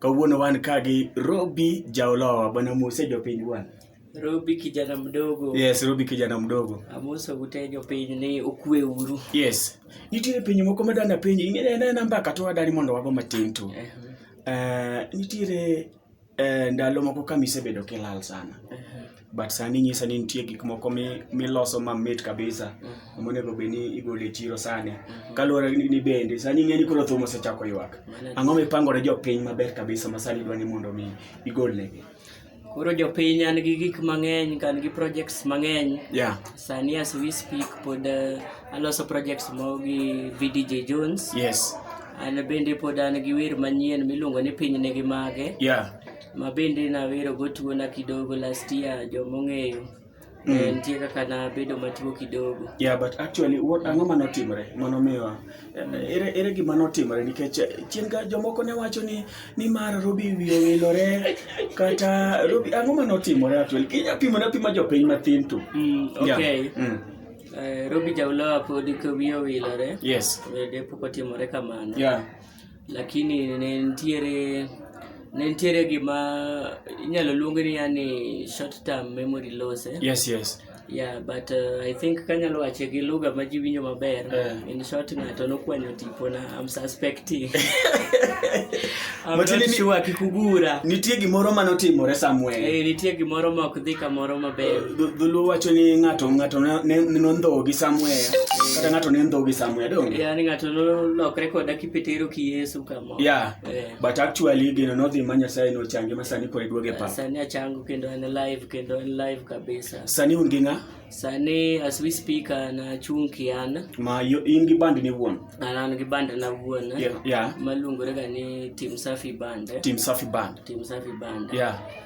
Kawuono wan ka gi Robi Jaolowa. Bwana Mose jopiny bwana. Robi kijana mdogo. Yes, Robi kijana mdogo. Amoso gute jopiny ni okwe uru. Yes. Nitiere piny moko madwa na penji, ing'e ne namba ka to adari mondo wago matin tu. Uh eh. -huh. Eh, uh, nitiere uh, ndalo moko kamisebedo kilal sana. Uh eh. -huh. but sani inyisa ni nitie gik moko miloso mamit kabisa mm. monego bed ni igolo e chiro sani mm. kaluwore ni bende sani ing'e ni koro thum osechako ywak ang'o mipangore jopiny maber kabisa ma sani idwa ni mondo mi igolnegi koro jopiny an gi gik mang'eny kan gi projects mang'eny yeah. sani as we speak pod uh, aloso projects mo gi vdj jones yes an bende pod an gi wer manyien miluongo ni piny nigi mage yeah. Ma bende nawero go tuo na kidogo last year jomong'eyo. Mm. Eh, nitie kaka nabedo matuo kidogo. Yeah, but actually what ang'o ma notimre mano miwa eh, ere ere gima notimre nikech eh, chien ga jomoko ne wacho ni ni mar Robi wiyo wilore kata Robi ang'o ma notimore actually kinya pimo na pima jopiny mathin tu. Mm, okay. Yeah. Mm. Eh, Robi Jaulowa pod wiyo wilore. Yes. Bende pok otimore kamano. Yeah. Lakini ne nitiere ne nitiere gima inyalo luong ni yani short term memory loss eh? Yes, yes. Yeah, but uh, I think kanyalo wache gi lugha ma ji winjo maber. Eh. In short, ng'ato nokwanyo tipo na I'm suspecting. I'm But not ni- sure kikugura. Nitie gimoro mane otimore somewhere. Eh, nitie gimoro ma ok dhi kamoro maber. dho- dholuo wacho ni ng'ato ng'ato ne- ne- nondhowo gi samweya kata ng'ato ne ndhowo gi samweya donge yani ng'ato nolokre koda kipetero ki yesu kamo yeah Eh. but actually gino nodhi ma nyasaye nochange ma sani koro iduoge pa sani achango kendo en live kendo en live kabisa sani un gi ng'a sani as we speak an achung' kian ma yo- in gi band ni wuon an an gi band na wuon yeah, yeah. maluongorega ni tim safi band tim safi band tim safi band yeah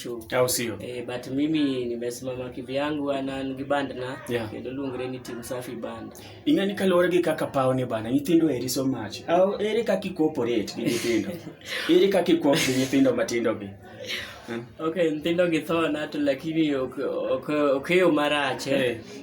show au sio eh, but mimi nimesimama kivyangu ana ngiband na yeah. kendo lungre ni team safi band ingani kalore gi kaka pao ni bana nyithindo eri so much au eri kaki cooperate gi nyithindo eri kaki coop gi nyithindo matindo gi hmm? okay nyithindo gi thona to lakini ok ok ok yo marache eh.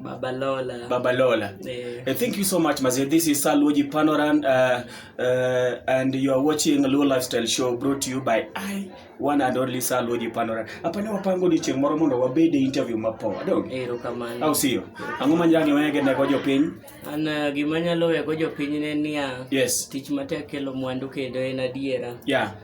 Baba Lola. Baba Lola. Yeah. Uh, thank you so much, Mazi. This is Saluji Panoran, uh, uh, and you are watching Luo Lifestyle Show brought to you by I, one and only Saluji Panoran. Hapa ni wapango ni cheng moro mondo wabede interview mapo. Adong. Ero kamano. Au siyo. Ang'o ma nyangi wege ne gojo piny? An uh, gima nyalo wego jopiny ne niya. Yes. Tich matek kelo mwandu kendo en adiera. Yeah.